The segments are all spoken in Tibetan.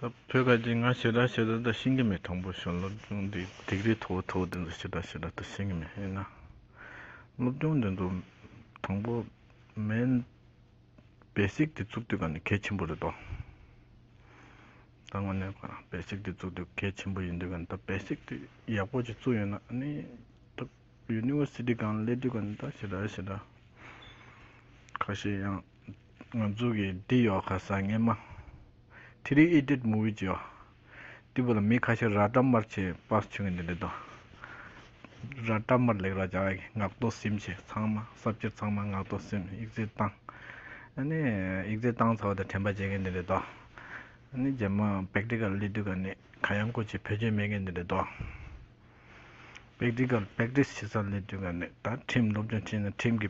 ད་བོད་ཁ་ཅིག་ང་ཞེ་དྲག་ཞེ་དྲག་ད་ཤེས་ཀྱི་མེད་དང་པོ་ཞོན་སློབ་སྦྱོང་འདི་སྡིག་རིས་ཐོག་ཐོག་འདི་ཚོ་ཞེ་དྲག་ཞེ་དྲག་ད་ཤེས་ཀྱི་མེད་ཡིན་ན་སློབ་སྦྱོང་འདི་ཚོ་དང་པོ་མེན basic འདི་བཙུགས་དུས་ག་གལ་ཆེན་པོ་རེད་དོ་ད་ང་ནས་ག basic འདི་བཙུགས་དུས་གལ་ཆེན་པོ་ཡིན་དུས་ག་ད basic འདི་ཡག་པོ་ཅིག་བཙུགས་ཡོད་ན་ནི་ད university གང་སླེབས་དུས་ག་ད་ཞེ་དྲག་ཞེ་དྲག་ཁ་ཤས་ཡང་ང་ཚོ་གི་འདི་ཡོད་ཁ་ས་ངན་མ། ཐི་རི་ཨི་ཏིད་མུ་བི་ཅི་ཡོ། དེ་བོ་ལ་མི་ཁ་ཤ་ར་ཏྲ་མར་ཆེ་པ་ཆུ་ངན་དེ་འདི་དོ། ར་ཏྲ་མར་ལེགས་ར་ཅག་གི་ངག་ཏོ་སིམ་ཆེ་ཚང་མ་ས་བཅུ་ཚང་མ་ངག་ཏོ་སིམ་ཡིག་རྩེ་བཏང། ཨ་ནི་ཡིག་རྩེ་བཏང་ཚ་བ་དེ་དྲན་པ་བྱེད་མཁན་དེ་འདི་དོ། ཨ་ནི་རྗེས་མ་བེག་ཏི་ཀར་ལི་ཏུ་ཀ་ནི་ཁ་ཡང་ཁོ་ཆེ་བེད་སྤྱོད་མེད་མཁན་དེ་འདི་དོ། བེག་ཏི་ཀར་བེག་ཏིས་ཆེ་ས་ལི་ཏུ་ཀ་ནི་ད་ཁྲིམས་སློབ་སྦྱོང་བྱེད་ན་ཁྲིམས་ཀྱི་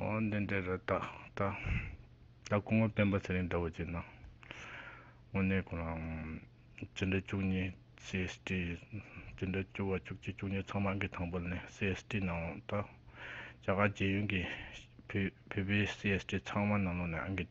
ཨོ་འདི་འདྲའི་རི་དྭགས་ད། ད་གོང་མ་སྤེན་པ་ཚེ་རིང་འདྲ་བོ་ཅིག་སྣང། དངོས་གནས་ཁོ་རང། ཅི་འདྲ་བཅུ་གཉིས CST། ཅི་འདྲ་བཅུ་བ་བཅུ་གཅིག་བཅུ་གཉིས་ཚང་མ་གི་དང་པོ་ནི CST ནང་ལོགས་ད། རྒྱ་གར་རྒྱལ་ཡོན་གི། བོད་པའི CST ཚང་མ་ནང་ལོགས་ནས་ཨང་གི།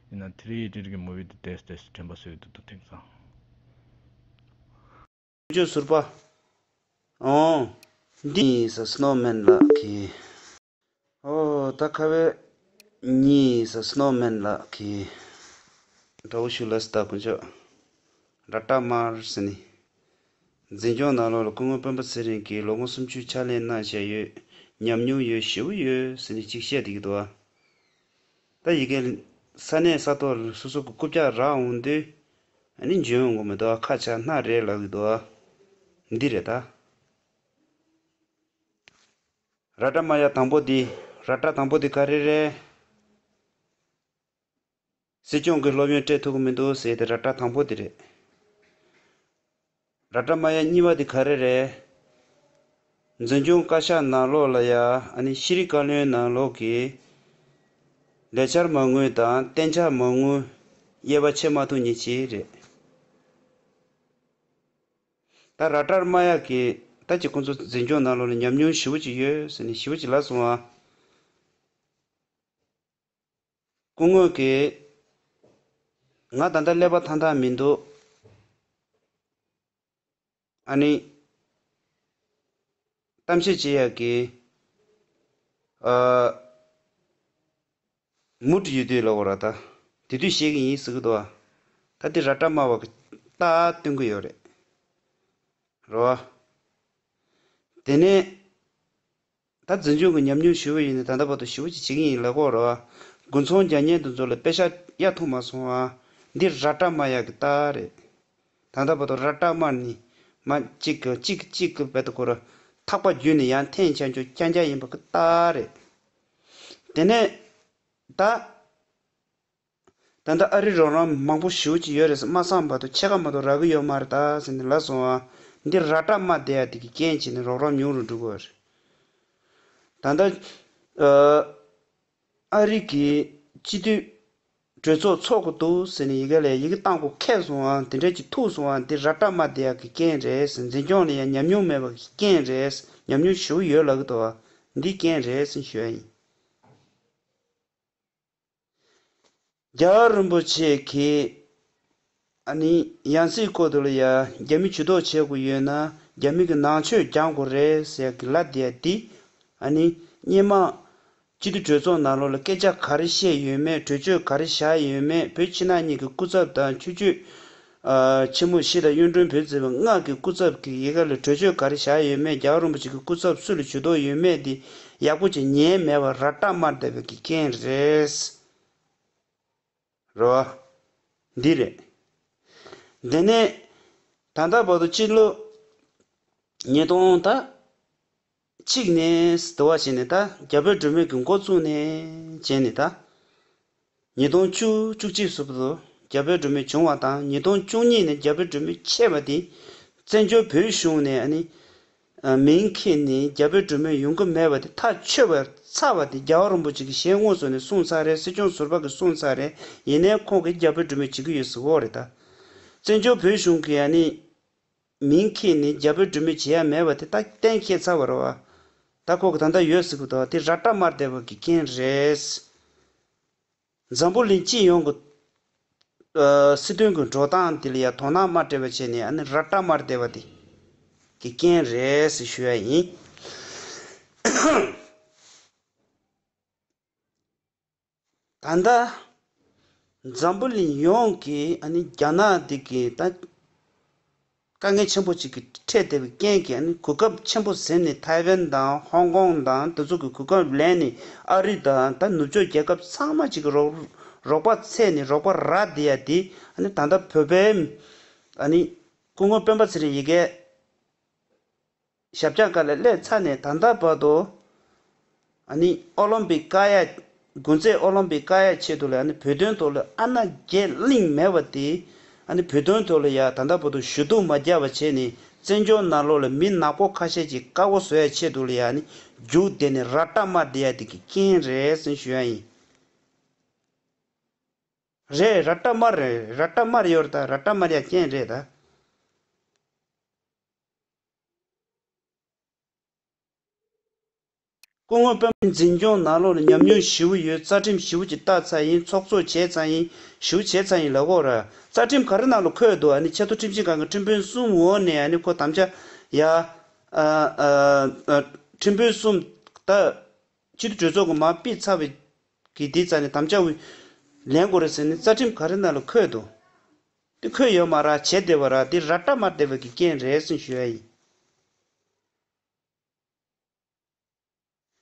ཡིན་ནའང་དེ་རིགས་ཀྱི་རིགས་མི་བུ་དེ་དེས་དེས་སུ་དྲན་པ་སོས་དུ་དུ་ཐེངས་གསང། ཁྱོད་ཀྱི་ཟུར་པ། འོང། འདི་ནི་ས་སྣོ་སྨན་ལགས་ཀྱི། ཨོ། ད་ཁ་བའི། ནི་ས་སྣོ་སྨན་ལགས་ཀྱི། དགྲ་བོ་ཤུ་ལ་སི་ད་དཀོན་མཆོག། ར་ཏྲ་མར་སི་ནི། འཛིན་སྐྱོང་ནང་ལོག་ལ་སྐུ་ངོ་དཔོན་པོ་ཚེ་རིང་གིས་ལོ་ངོ་སུམ་ཅུའི་ཕྱག་ལེན་གནང་བཞེད་ཡོད། ཉམས་མྱོང་ཡོད་ཞེ་བོ་ཡོད་སི་ནི་ཅིག་བཤད་དེ་གི་དུ་བ། ད་ཡི་གེ། ས་གནས་ས་ཐོག་སོ་སོ་གི་རྐུབ་བཀྱག་རག་འོང་དུས། ནི་འཇོན་འོང་གི་མི་འདུག་ཁ་ཆག་སྣ་རེད་ལབ་ཡི་འདུག། འདི་རེད་ད། ར་སྒྲ་མ་ཡག་དང་པོ་འདི། ར་སྒྲ་དང་པོ་འདི་ག་རེ་རེད། སྲིད་སྐྱོང་གི་སློབ་ཡོན་སྤྲད་ཐུབ་གི་མི་འདུག་ཟེར་ཏེ་ར་སྒྲ་དང་པོ་འདི་རེད། ར་ཏྲ་མ་ཡ་གཉིས་པ་དེ་ག་རེ་རེད། འཛིན་སྐྱོང་བཀའ་ཤག་ནང་ལོགས་ལ་ཡ་ཨ་ནི་ཤེས་རིག་བཀའ་བློན་ནང་ལོགས་ཀྱི་ལས་འཆར་མ་དངུལ་དང་གཏན་འཆར་མ་དངུལ་དབྱེ་བ་ཕྱེ་མ་ཐུབ་ཉེ་ཆེ་རེད། ད་ར་ཏྲར་མ་ཡ་གི་ད་ཀྱི་ཁོང་ཚོ་འཛིན་སྐྱོང་ནང་ལོགས་ལ་ཉམས་མྱོང་ཞི་བོ་ཅིག་ཡོད་ཟེར་ནས་ཞི་བོ་ཅིག་ལབ་སོང་ཨ། སྐུ་དངོས་ཀྱིས། ང་ད་ལྟ་ཀླད་པ་ཐང་ཐང་མི་འདུག། ཨ་ནི། གཏམ་བཤད་བྱེད་ཡག་གི། ཨ། མུ་ཏྲི་ཡོད་དུས་ལ་བོ་ར་ད། དེ་དུས་བཤད་གི་ཡིན་ཟེར་གི་འདུག་ཨ། ད་དེ་ར་ཏྲ་སྨྲ་བ་གི། ཏ་ཨ་སྟོན་གི་ཡོད་རེད། རོ་ཨ། དེ་ནས། ད་འཛིན་སྐྱོང་གི་ཉམས་མྱོང་ཞི་བོ་ཡིན་ནས་ད་ལྟ་བར་དུ་ཞི་བོ་ཅིག་བྱེད་ཀྱི་ཡིན་ལེགས་པོ་རེད། དགུན་ཚོང་རྒྱག་ཉལ་དུ་འཛུལ་ལ་དཔེ་ཆ་གཡའ་མཐོང་མ་སོང་ཨ། འདི་ར་སྐྲ་དམར་ཡག་གི་རྟགས་རེད། ད་ལྟ་བར་དུ་ར་སྐྲ་དམར་ནི། མ། གཅིག་གི་གཅིག་གི་གཅིག་གི་བལ་དུ་བཀོལ། ཐག་པ་བརྒྱུས་ནས་ཡང་འཐེན་བྱ་འཇོག་རྐྱང་རྐྱང་ཡིན་པ་གི་རྟགས་རེད། དེ་ནས། ད། ད་ལྟ་ཨ་རི་རོགས་རམ་མང་པོ་ཞུ་གྱི་ཡོད་རེད་ཟེར་དམག་སང་བར་དུ་ཕྱེད་ཀ་མ་གཏོགས་རག་གི་ཡོད་མ་རེད་ད་ཟེར་ནས་ལ་སོང་བ། འདིར་ར་སྤྲ་མ་བསྡད་ཡ་དེ་གི་རྐྱེན་བྱས་ནས་རོགས་རམ་ཉུང་རུ་འགྲོ་གི་རེད། ད་ལྟ་ཨ་རི་གི་སྤྱི་འཐུས་གྲོས་ཚོགས་ཚོགས་གི་འདུག་ཟེར་ནས་ཡི་གེ་ལས་ཡི་གེ་བཏང་གོ་ཁད་སོང་བ་དེ་འདྲས་ཀྱི་ཐུག་སོང་བ་འདིར་ར་སྤྲ་མ་བསྡད་ཡ་གི་རྐྱེན་རེད་ཟེར་འཛིན་སྐྱོང་ལ་ཡང་ཉམས་མྱོང་མེད་པ་གི་རྐྱེན་རེད་ཉམས་མྱོང་ཞུ་གི་ཡོད་ལ་གི་འདུག་བ་འདིའི་རྐྱེན་རེད་ཟེར་ཞུ་ཡ་ཡིན། རྒྱ་གར་རིན་པོ་ཆེ་གིས་ཡང་སྲིད་བསྐོ་དོ་ལ་ཡ་རྒྱ་མི་ཇུས་གཏོགས་བྱེད་དགོས་ཡོད་ན་རྒྱ་མི་གི་ནང་ཆོས་རྒྱང་དགོས་རེད་ཟེར་གི་ལ་དེ་འདི་སྙན་མང་སྤྱི་འཐུས་གྲོས་ཚོགས་ནང་ལོག་ལ་སྐད་ཆ་ག་རེ་བཤད་ཡོད་མེད་གྲོས་ཆོད་ག་རེ་བཞག་ཡོད་མེད་བོད་ཕྱི་ནང་གཉིས་ཀྱི་སྐུ་ཚབ་དང་ཆོས་བརྒྱུད་ཕྱི་མོ་བཞི་དང་གཡུང་དྲུང་བོས་བརྩིས་པའི་སྔགས་ཀྱི་སྐུ་ཚབ་ཀྱི་ཡི་ག་ལས་གྲོས་ཆོད་ག་རེ་བཞག་ཡོད་མེད་རྒྱ་གར་རིན་པོ་ཆེ་གི་སྐུ་ཚབ་སུ་ལ་ཇུས་གཏོགས་ཡོད་མེད་དེ་ཡག་པོ་ཇི་ཉན་མེད་པར་ར་སྐྲག་མར་བསྡད་པའི་གི་རྐྱེན་རེད། རེད་བ། འདི་རེད། དེ་ནས། ད་ལྟ་བར་དུ་སྤྱི་ལོ། ཉིས་སྟོང་དང། གཅིག་ནས་དུ་བ་བྱས་ནས་ད། རྒྱ་བོད་སྒྲོལ་མའི་དགོན་སྐོར་བཙུགས་ནས་བྱས་ནས་ད། ཉིས་སྟོང་བཅུ་བཅུ་གཅིག་སུ་དུ་རྒྱ་བོད་སྒྲོལ་མའི་བྱུང་བ་དང་ཉིས་སྟོང་བཅུ་གཉིས་ནས་རྒྱ་བོད་སྒྲོལ་མའི་ཆད་པ་དེ། བཙན་བྱོལ་བོད་གཞུང་ནས་ཨ་ནི། མིང་ཁེས་ནི་རྒྱ་བོད་སྒྲོལ་མའི་ཡོང་གི་མེད་པ་དེ་ཐག་ཆོད་པར་ཚར་བ་དེ་རྒྱ་བ་རིན་པོ་ཆེ་གིས་ཞལ་དངོས་སུ་ནས་གསུངས་ཚར་རེད་སྲིད་སྐྱོང་ཟུར་པ་གིས་གསུངས་ཚར་རེད་ཡིན་ནའི་ཁོང་གིས་རྒྱ་བོད་སྒྲོལ་མའི་བྱེད་ཀྱི་ཡོད་ཟིག་འོ་རེད་ད། བཙན་བྱོལ་བོད་གཞུང་གིས་ཨ་ནི། མིང་ཁྱེད་ནི་རྒྱ་བོད་འབྲུ་མེད་བྱེད་ཡ་མེད་པ་དེ་ད་གཏན་ཁྱེད་ཚར་བ་རོ། ད་ཁོ་གི་ད་ད་ཡོད་ཟིག་གི་དོ་དེ་ར་བཀྲ་དམར་སྡེ་བ་གི་རྐྱེན་རེད། འཛམ་བུ་གླིང་སྤྱི་ཡོངས་གི་སྲིད་དོན་གི་འགྲོ་སྟངས་དེ་ལ་ཡ་དོ་སྣང་མ་སྤྲད་པ་བྱས་ནས་ཨ་ནི་ར་བཀྲ་དམར་སྡེ་བ་དེ་གི་རྐྱེན་རེད་ཞུ་ཡ་ཡིན། ད་ལྟ་འཛམ་བུ་གླིང་ཡོངས་ཀྱི་རྒྱ་ནག་འདི་གའི་དཀའ་ངལ་ཆེན་པོ་ཅིག་གི་འཕྲད་བསྡད་པའི་རྐྱེན་གྱིས་གོ་སྐབས་ཆེན་པོ་ཟིན་ནས་ཐའེ་ཝན་དང་ཧོང་ཀོང་དང་དེ་ཚོ་གི་གོ་སྐབས་ལེན་ནས་ཨ་རི་དང་ད་ནུབ་ཕྱོགས་རྒྱལ་ཁབ་ཚང་མ་ཅིག་གི་རོགས་པ་ཚད་ནས་རོགས་པ་ར་འདི་ཡ་འདི་ད་ལྟ་བོད་པའི་སྐུ་ངོ་སྤེན་པ་ཚེ་རིང་ཡི་གེ། ཞབས་བྱང་ཀ་ལ་ཀླད་ཚ་ནས་ད་ལྟ་བར་དུ་ཨ་ནི་ཨོ་ལོམ་པི་ཀ་ཡ། དགུན་རྩེད་ཨོ་ལོམ་པི་ཀ་ཡ་ཆེད་དུ་ལ་ཨ་ནི་བོད་དོན་ཐོག་ལ་ཨ་ན་རྒྱས་གླིང་མེད་པ་དེས་ཨ་ནི་བོད་དོན་ཐོག་ལ་ཡ་ད་ལྟ་བར་དུ་ཞུ་གཏུག་མ་རྒྱག་པ་བྱས་ནས་བཙན་བྱོལ་ནང་ལོག་ལ་མི་ནག་པོ་ཁ་ཤས་ཀྱི་བཀའ་བོ་བཟོ་ཡ་ཆེད་དུ་ལ་ཡ་ཨ་ནི་རྒྱུག་བསྡད་ནས་ར་སྐྲ་དམར་བསྡད་ཡ་དེ་གི་རྐྱེན་རེད་སེམས་ཞུ་ཡ་ཡིན། རེད་ར་སྐྲ་དམར་རེད་ར་སྐྲ་དམར་ཡོད་རེད་ད་ར་སྐྲ་དམར་ཡ་རྐྱེན་རེད་ད། སྐུ་ངོ་པདྨ་ནི་འཛིན་སྐྱོང་ནང་ལོག་ལ་ཉམས་མྱོང་བཞི་བོ་ཡོད་རྩ་ཁྲིམས་བཞི་བོ་ཀྱི་བཏགས་ཚ་ཡིན་ཚོགས་གཙོ་བྱས་ཚང་ཡིན་བཞི་བོ་བྱས་ཚང་ཡིན་ལ་ཁོ་རརྩ་ཁྲིམས་ག་རེ་ནང་ལ་འཁོད་འདུག་ཨ་ནི་ཆེ་མཐོ་ཁྲིམས་ཞིབ་ཁང་གི་ཁྲིམས་དཔོན་གསུམ་འོག་ནས་ཨ་ནི་ཁོ་དམ་བཅའ་ཡ། ཁྲིམས་དཔོན་གསུམ་ད། སྤྱི་འཐུས་གྲོས་ཚོགས་ཀྱི་མ་དཔེ་ཚ་བའི་གི་དེ་རྩ་ནི་དམ་བཅའ་ལེན་དགོས་རེད་ཟེར་ནི་རྩ་ཁྲིམས་ག་རེ་ནང་ལ་འཁོད་འདུག་འདི་ཁོད་ཡོད་མ་རག་བྱེད་བདེ་བ་རག་འདི་ར་བཀྲ་མ་བདེ་བ་གི་རྐྱེན་རེད་གསུངས་ཞུ་ཡ་ཡིན།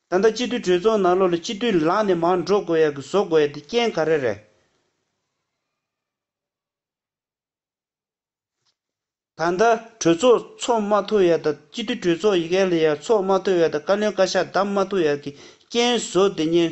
ད་ལྟ་སྤྱི་འཐུས་གྲོས་ཚོགས་ནང་ལོ་ལ་སྤྱི་འཐུས་ལངས་ནས་མང་འགྲོ་དགོས་ཡ་གི་བཟོ་དགོས་ཡ་འདི་རྐྱེན་ག་རེ་རེད། ད་ལྟ་གྲོས་ཚོགས་ཚོགས་མ་ཐུབ་ཡ་ད་སྤྱི་འཐུས་གྲོས་ཚོགས་ཡི་གེ་ལ་ཡ་ཚོགས་མ་ཐུབ་ཡ་ད་བཀའ་བློན་བཀའ་ཤག་བདམས་མ་ཐུབ་ཡ་གི་རྐྱེན་བཟོ་འདི་གཉེན་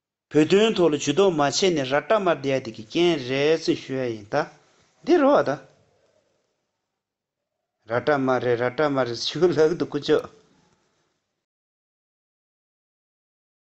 བོད་དོན་ཐོག་ལ་ཇུས་གཏོགས་མ་བྱས་ནས་ར་ཏྲ་མར་བསྡད་ཡ་དེ་གི་རྐྱེན་རེད་ཚུལ་ཞུ་ཡ་ཡིན་ད། འདི་རོ་ད། ར་ཏྲ་མ་རེད་ར་ཏྲ་མ་རེད་ཞུ་ལག་ཏུ་ཁུ་ཆོག།